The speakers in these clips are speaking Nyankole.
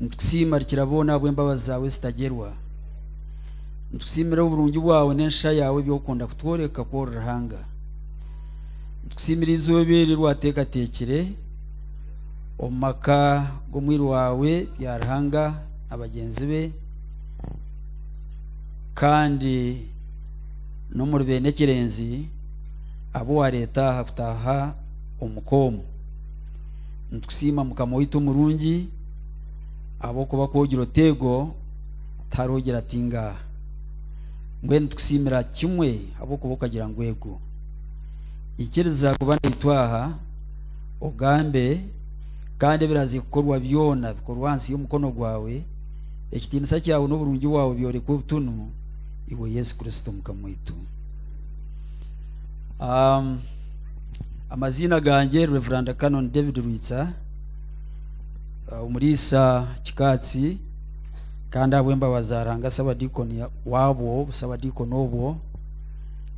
Nitukusiima Rukiraboona ahabw'embabazi zaawe ezitagyerwa. Nitukusiimira oburungi bwawe n'ensha yaawe ebi orikunda kutworeka ku ori Ruhanga. Nitukusiimira eizooba eri eri waateekateekire omu maka g'omwiru waawe Byaruhanga na bagyenzi be kandi n'omuri beene Kirenzi abu waareeta aha kutaaha omuka omu. Nitukusiima mukama waitu omurungi ahabw'okuba ku ogira oti ego tihariho ogira ati ngaaha. Mbwenu nitukusiimira kimwe ahabw'okuba okagira ngu ego. Ikiriza kuba naitwe aha, ogambe, kandi ebiraze kukorwa byona bikorwe ahansi y'omukono gwawe, ekitiinisa kyawe n'oburungi bwawe byorekwe butunu, iwe Yesu Kristo mukama waitu. Aamm. Amaziina gangye Rev Canon David Rwitsa ah, omuriisa Kikaatsi kandi ahabw'embabazi za Ruhanga Sabadiikoni waabwo busabadiikoni obwo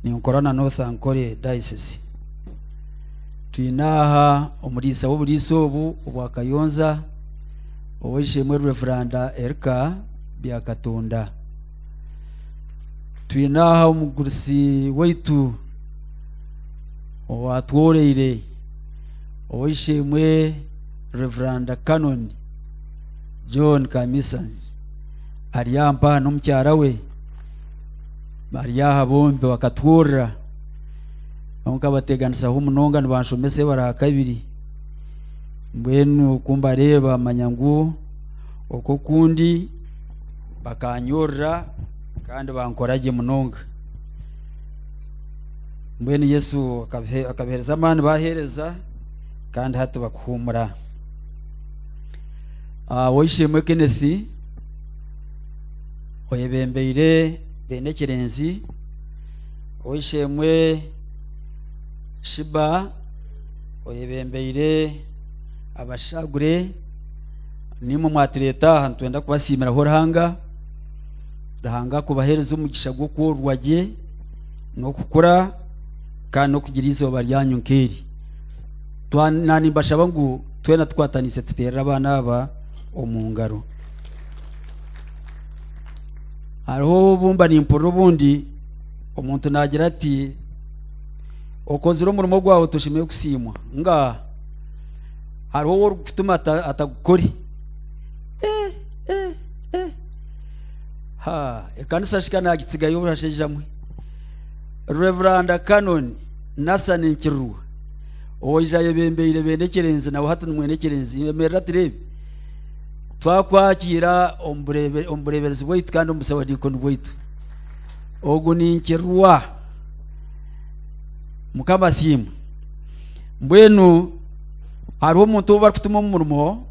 ninkora na North Ankole Diocese twine aha omuriisa w'oburiisa obu obwa Kayonza ow'eishe-emwe Rev Erika Byakatonda twine aha omugurusi waitu owatworeire ow'eishe-emwe Reveranda Canon John Kamisa ari aha mpaha n'omukyara we bari aha bombi bakatworora kwonka bateeganisaho munonga nibanshomesa ebara aha kabiri mbwenu ku mbareeba manya ngu oku oku ndi Bakanyurira kandi bankora gye munonga. Mbwenu Yesu akabihe- akabihereza amaani baheereza kandi hati bakuhuumura. Ah, Ow'eishe-emwe Kenneth oyebembeire beene ekireenzi, ow'eishe-emwe Shiba oyebembeire abashaagure, nimwe mwatureeta aha nitwenda kubasiimiraho ruhanga ruhanga kubaheereza omugisha gw'okworwa gye n'okukura kandi n'okugira izooba ryanyu nk'eri nanimbashaba ngu twena tukwataniise tuteerere abaana aba omu ngaro hariho obumba nimpurira obundi omuntu naagira ati okozire omurimo gwawe toshemeire kusiimwa nga hariho owu orikutuma ata- atagukore Eh, eh, eh. ha ekanisa shika nagitsigayo obushashaija mwe reveranda canon nasan nkirurwa owaija ayebembeire bene ekyerenzi nawe hati nimwene ekyerenzi emerera tureebe twakwakiira omu burebe- omu bureberezi bwaitu kandi omu busabadiikoni bwaitu ogu ninkirwa mukama asiimwe mbwenu hariho omuntu ou barikutuma omu murimo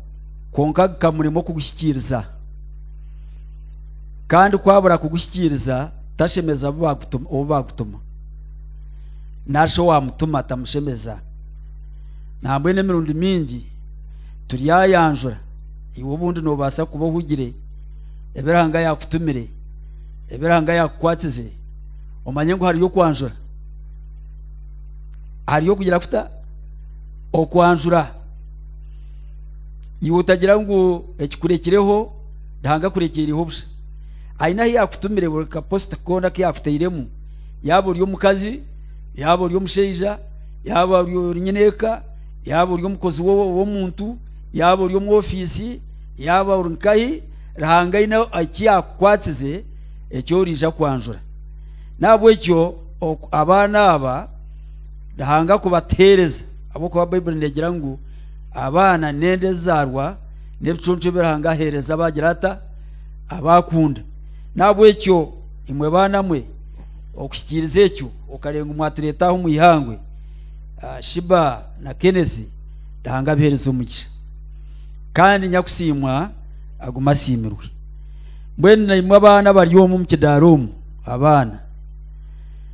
kwonka bikamurema okuguhikiiriza. Kandi ku abura kuguhikiiriza tashemeza abu baagutuma ou baagutuma. Narishi owaamutuma tamushemeza. Nambwenu emirundi mingi turyayanjura iwe obundi noobaasa kuba ohugire ebi Ruhanga yaakutumire, ebi Ruhanga yaakukwasize, omanye ngu hariyo okwanjura, hariyo okugira kuta? okwanjura iwe otagira ngu ekikurekireho ruhanga akurekyeireho busha aine ahu yakutumire buri kaposita koona aku yakutairemu yaaba ori omukazi yaaba ori omushaija yaaba ori ori nyine eka yaaba ori omukozi wo- w'omuntu yaaba ori omu ofiisi yaaba ori nkahi ruhanga aine eki yakukwatsize eki oriija kwanjura nahabwekyo oku- abaana aba Ruhanga kubatuheereza ahabw'okuba Baibuli neegira ngu abaana n'enda ezizaarwa n'ebiconco ebi Ruhanga aheereza abaagira ata abaakunda n'ahabw'ekyo imwe baana mwe okuhikiiriza ekyo okarenga mwatureeta aho omu ihangwe ah, shiba na kenneth Ruhanga abiheereza omugisha kandi nyakusiimwa aguma asiimirwe mbwenu naimwe abaana bari omu omu kidaara omu abaana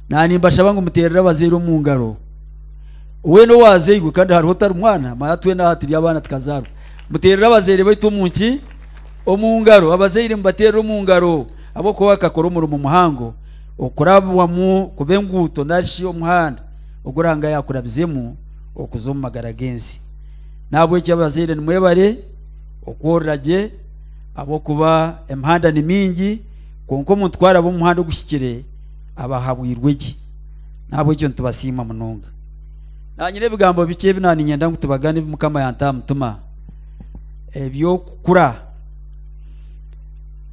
Naanimbashaba ngu muteerere abazaire omu ngaro. Weena owaazairwe kandi hariho otari mwana, mara twena aha turi abaana tukazaarwa. Muteerere abazaire baitu omu nki? Omu ngaro. Abazaire mubateerere omu ngaro ahabw'okuba bakakora omurimo muhango okurabwamu kuba enguuto nari shi omuhanda ogu Ruhanga yaakurabizemu okuza omu magara g'ensi. N'ahabw'ekyo abazaire nimwebare okworora gye ahabw'okuba emihanda ni mingi, kwonka omuntu ku araba omu muhanda oguhikire, abahabwirwe gye. Nahabwekyo nitubasiima munonga. Na nyine ebigambo bikye ebi na ninyenda ngu tubagane ebi Mukama yanta aha mutima eby'okukura.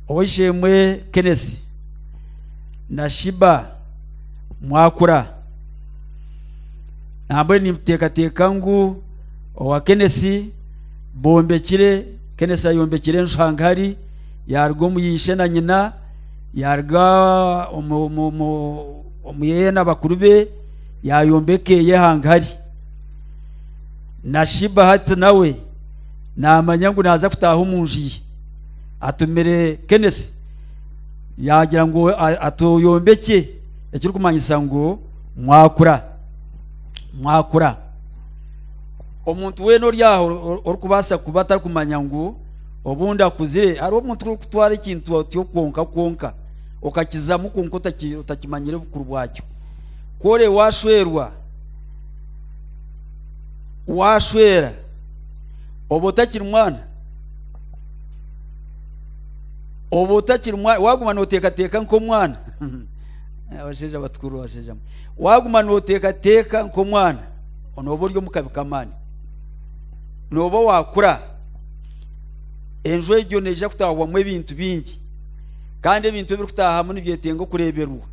Ow'eishe-emwe Kenneth na Shiba mwakura, nambwenu nimbuteekateeka ngu owa Kenneth bombekire, Kenneth ayombekire enju hangahari yaaruga omu ishe na nyina, Yaaruga omu yeye na bakuru be yaayombeka eye hangari. Na Shiba hati nawe naamanya ngu naaza kutaaha omu nju ye. Atumire Kenneth yaagira ngu atuyombekye ekirikumanyisa ngu mwakura mwakura. Omuntu weena ori aho orikubaasa kuba atarikumanya ngu Obu ndakuzire, hariho omuntu orikutwara ekintu otyo kwonka kwonka, okakizamu kwonka otaki- otakimanyire obukuru bwakyo. Kore washwerwa, washwera, oba otakiri mwana, oba otakiri mwana, waguma noteekateeka nk'omwana. Abashaija batukuru, abashaija mwe. Waguma noteekateeka nk'omwana, nooba ori omu kabi k'amaani. Nooba wakura. enju egyo neija kutaahwamu ebintu bingi kandi ebintu ebirikutaahamu nibyetenga okureeberwa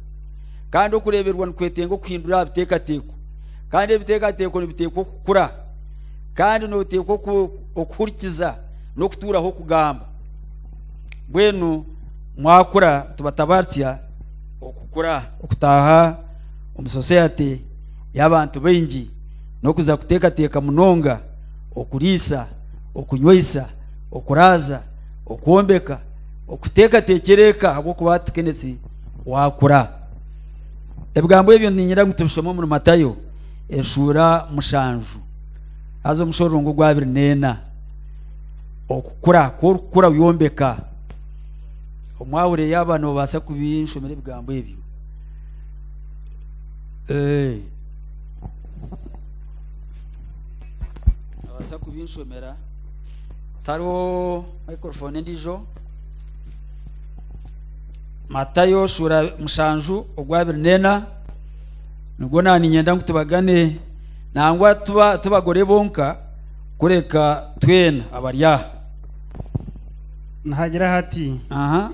kandi okureeberwa nikwetenga okuhindura aha biteekateeko kandi ebiteekateeko nibiteekwa okukura kandi nooteekwa okuhurikiza n'okutuuraho okugamba mbwenu mwakura tubatabaaritsya okukura okutaaha omu soseyate y'abantu baingi n'okuza kuteekateeka munonga okuriisa, okunywesa, okuraaza, okwombeka, okuteekateekyera eka ahabw'okuba hati Kenneth waakura. Ebigambo ebyo niinyenda ngu tubishome omuri Matayo eshuura mushanju haza omushororongo ogwa abiri n'ena. Okukura, ku orikukura oyombeka. Omwahurire yaaba noobaasa kubinshomera ebigambo ebyo. Ee. abaasa kubinshomera tariho microphone endiijo matayo shuura mushanju ogwabiri neena nibwo naaninyenda ngu tubagane nangwa tuba tibagore bonka kureka twena abari aha nihagira hati aha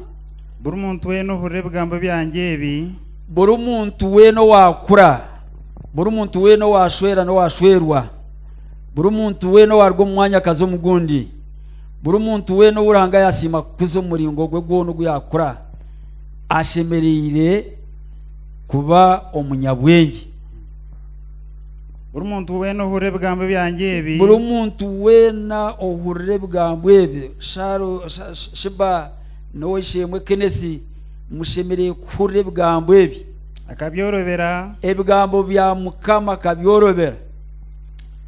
buri muntu weena ohurira ebigambo byangye ebi buri muntu weena owaakura buri muntu weena owaashwera n'owaashwerwa buri muntu weena owaaruga omu mwanya akaza omu gundi buri muntu weena ou ruhanga yaasiima kukuza omu muringo gwe gwona ogu yaakura ashemereire kuba omunyabwengye buri muntu weena ohurira ebigambo byangye ebi buri muntu weena ohurira ebigambo ebi Sharo- Sha- Sha- shiba n'ow'eisheemwe kenethi mushemereire kuhurira ebigambo ebi Akabyorobera. Ebigambo bya Mukama akabyorobera.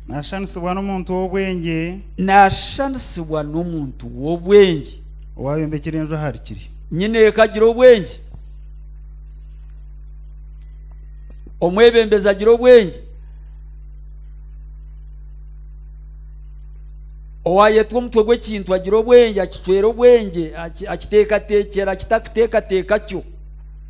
Nashanisibwa n'omuntu w'obwengye. Nashanisibwa n'omuntu w'obwengye. Owayombekire enju ahari kiri. Nyine eka agira obwengye. Omwebembezi agira obwengye. owayetwa omutwe gw'ekintu agira obwengye akicwera obwengye akiteekateekyera akitakuteekateeka kyo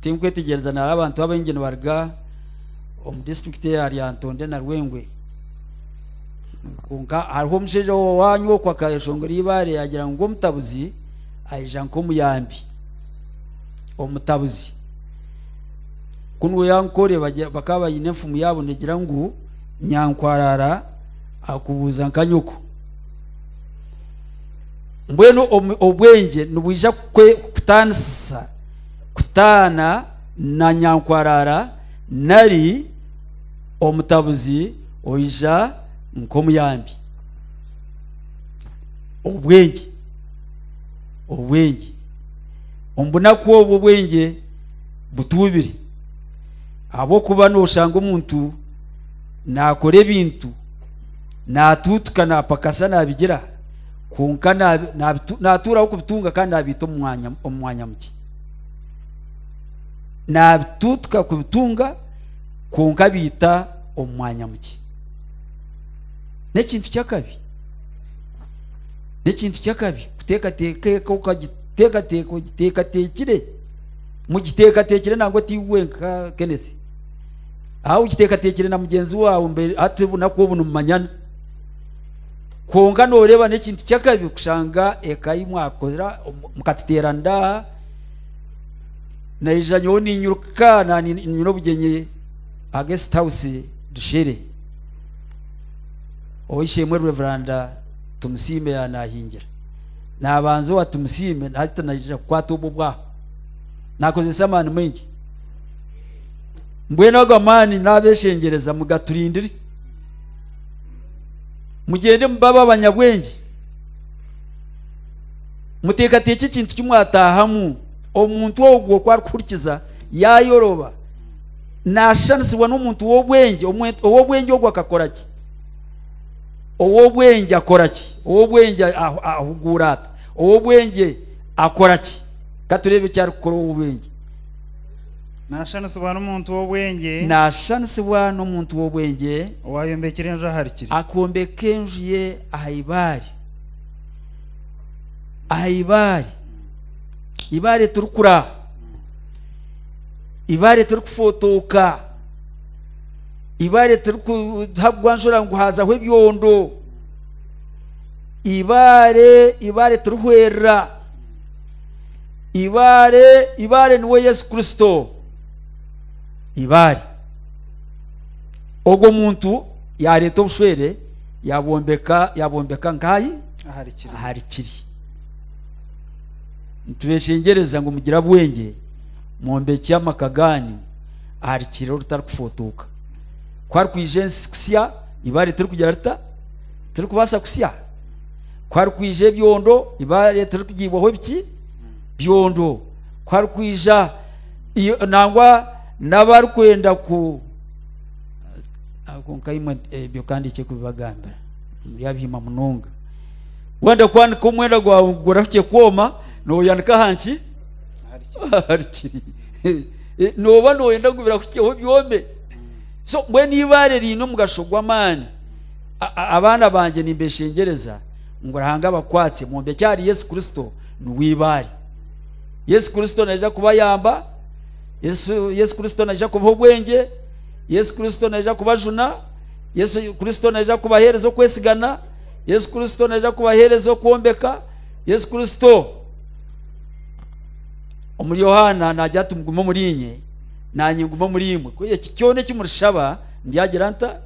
Tinkwetegyereza nari abantu abaingi nibaruga omu disiturikiti eya Lyantonde na Rwengwe. Kwonka hariho omushaija owaanyu oku akayeshongera eibaare yaagira ngu ngu omutabuzi aija nk'omuyambi. Omutabuzi ku niwe yankore bagya- bakaba baine enfumu yaabo negira ngu nyankwarara akubuuza nka nyoko. Mbwenu omu- obwengye nibwija kukwe- kukutaanisa kutaana na nyankwarara nari omutabuzi oija nk'omuyambi. Obwengye. Obwengye. Omu bunaku obwo obwengye butuubire. Ahabw'okuba nooshanga omuntu naakora ebintu, naatuutuka, naapakasa, naabigira. kwonka naatuuraho kubitunga kandi naabiita omu mwanya mukye naabituutuka kubitunga kwonka abiita omu mwanya mukye n'ekintu ky'akabi n'ekintu ky'akabi kuteekateeka eka okagiteekateeka ogiteekateekire mugiteekateekire nangwa oti iwe nka kenneth aho ogiteekateekire na mugyenzi waawe hati obunaku obu nimumanyana kwonka nooreeba n'ekintu ky'akabi kushanga eka yi mwakora mukatuteera ndaaha naija nyowe niinyiruka ninyine obugyenyi aha guest house dushere oweisheemwe reveranda tumusiime yaanaahingira naabanza owa tumusiime hati naija kukwata obwo obwaha naakozesa amaani maingi mbwenu ago amaani naabeeshengyereza mugaturindire mugyende mubabe abanyabwengye muteekateekye ekintu ki mwataahamu omuntu ogwo ku arikuhurikiza yaayoroba naashushanisibwa n'omuntu w'obwengye ow'obwengye ogwo akakora ki ow'obwengye akora ki ow'obwengye ahuguura ata ow'obwengye akora ki katureebe eki arikukora ow'obwengye Naashanisibwa n'omuntu w'obwengye. Naashanisibwa n'omuntu w'obwengye. Owaayombekire enju ahari kiri. Akombeka enju ye aha ibaare. Aha ibaare. Ibaare tirikura. Ibaare tirikufootooka. Ibaare tirikuhagwa njura ngu haazaho ebyondo. Ibaare ibaare tirihwerera. Ibaare, Ibaare niwe Yesu Kristo. Ibaare. Ogwo muntu yareeta obushwere yabwombeka yabwombeka nkayi ahari kiri ahari kiri. Nitubeshengyereza ngu mugire abwengye mwombekye amaka ganyu ahari kiri orutarikufotoka. Ku harikwija ensi kusya, ibaare tirikugira rita? Tirikubaasa kusya. ku harikwija ebyondo eibaare tirikugiibwaho ebiki byondo ku harikwija i- nangwa n'abarikwenda ku ako nkaimwe nti, "Eh, ebyo kandi ekyo kubibagambira muri abiima munonga wenda kwanika omwenda gwawe ngu gurahukye kwoma nooyanika aha nki ahari kiri Eh, nooba nooyenda ngu birahukyeho byome so mbwenu eibaare riine omugasho gw'amaani Abaana bangye nimbeshengyereza ngu Ruhanga abakwatsye mwombekye ahari Yesu Kristo niwe eibaare. Yesu Kristo naija kubayamba, Yesu, Yesu Kristo naija kubaha obwengye, Yesu Kristo naija kubajuna, Yesu Kristo naija kubaheereza okwesigana, Yesu Kristo naija kubaheereza okwombeka, Yesu Kristo omuri Yohaana naagira ati mugume omuri inye nanye ngume omuri imwe, ku eki kyona eki murishaba ndyagira nta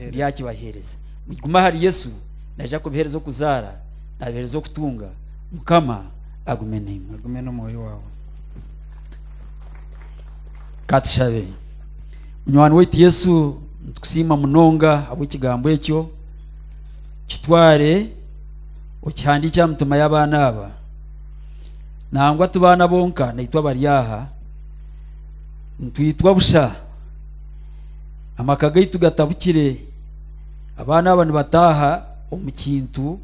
ndyakibaheereza. Mugume ahari Yesu, naija kubiheereza okuzaara, naabiheereza okutunga. Mukama agume naimwe. agume n'omwoyo waawe katushabe munywani waitu yesu nitukusiima munonga habw'ekigambo ekyo kitware okihandiikye aha mitima y'abaana aba nangwa ti baana bonka naitwe abari aha nitwitwa busha Amaka gaitu gatabukire. Abaana aba nibataaha omu kintu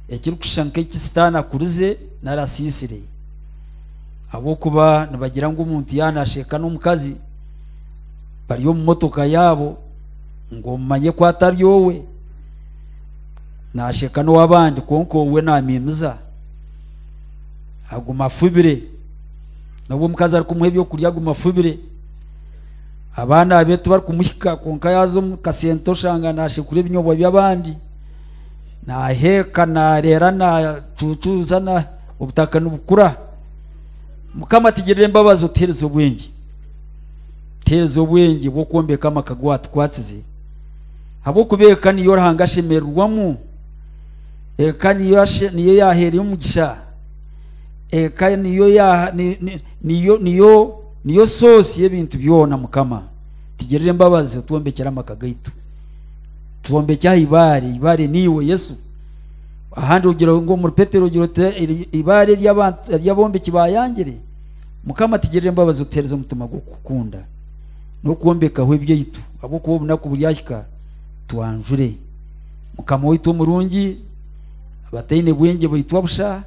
ekirikushusha nk'eki Sitaane akurize nari asiisire. Ahabw'okuba nibagira ngu omuntu yaanasheka n'omukazi bari omu motoka yaabo ngu omumanye ku atari owe, naasheka n'ow'abandi kwonka owe naamiimiza. Aguma afubire. N'obu omukazi arikumuha eby'okurya aguma afubire. abaana be tibarikumuhika kwonka yaaza omu kasenta oshanga naashekura ebinyobwa by'abandi naaheeka naareera naacuucuuza na obutaka nibukura mukama tugirire embabazi otuheereze obwengye tuheereze obwengye bw'okwombeka amaka gu watukwatsize habw'okuba eka niyo ruhanga ashemererwamu eka niyo niyo yaheera omugisha eka niyo ya Niyo, niyo, niyo soosi y'ebintu byona, Mukama. Tugirire embabazi, otwombekyere amaka gaitu. Twombekye aha ibaare. Ibaare niiwe, Yesu. Ahandi ogira ngu omuri Petero ogira oti eri- ibaare ry'abantu- ry'abombeki baayangire. Mukama, tugirire embabazi otuheereze omutima gw'okukukunda n'okwombekaho ebyaitu, ahabw'okuba obunaku buryahika twanjure. Mukama waitu omurungi, abataine bwengye baitwa busha,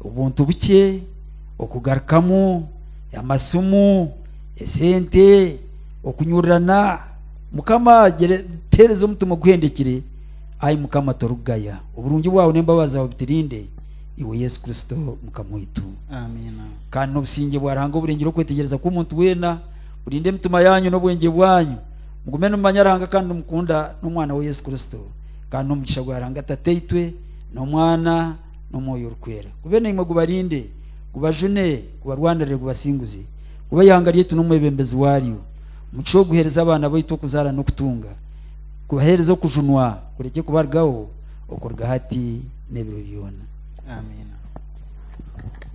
obuntu bukye, okugarukamu, amasimu, esente, okunyurirana. Mukama teereza omutima oguhendekire, ai Mukama torikugaya. Oburungi bwawe n'embabazi zaawe biturinde, iwe Yesu Kristo Mukama waitu. Amiina. Kandi n'obusingye bwa Ruhanga oburengire okwetegyereza kw'omuntu weena, burinde emitima yaanyu n'obwengye bwanyu, mugume nimumanya Ruhanga kandi nimukunda n'Omwana we Yesu Kristo. Kandi n'omugisha gwa Ruhanga Tataitwe, n'Omwana, n'omwoyo orikwera gube naimwe gubarinde gubajune gubarwanirire gubasinguze kuba ihanga ryaitu n'omwebembezi waaryo omugisha oguheereza abaana baitu okuzaara n'okutunga kubaheereza okujunwa kurekye kubarugaho okuruga hati n'ebiro byona amiina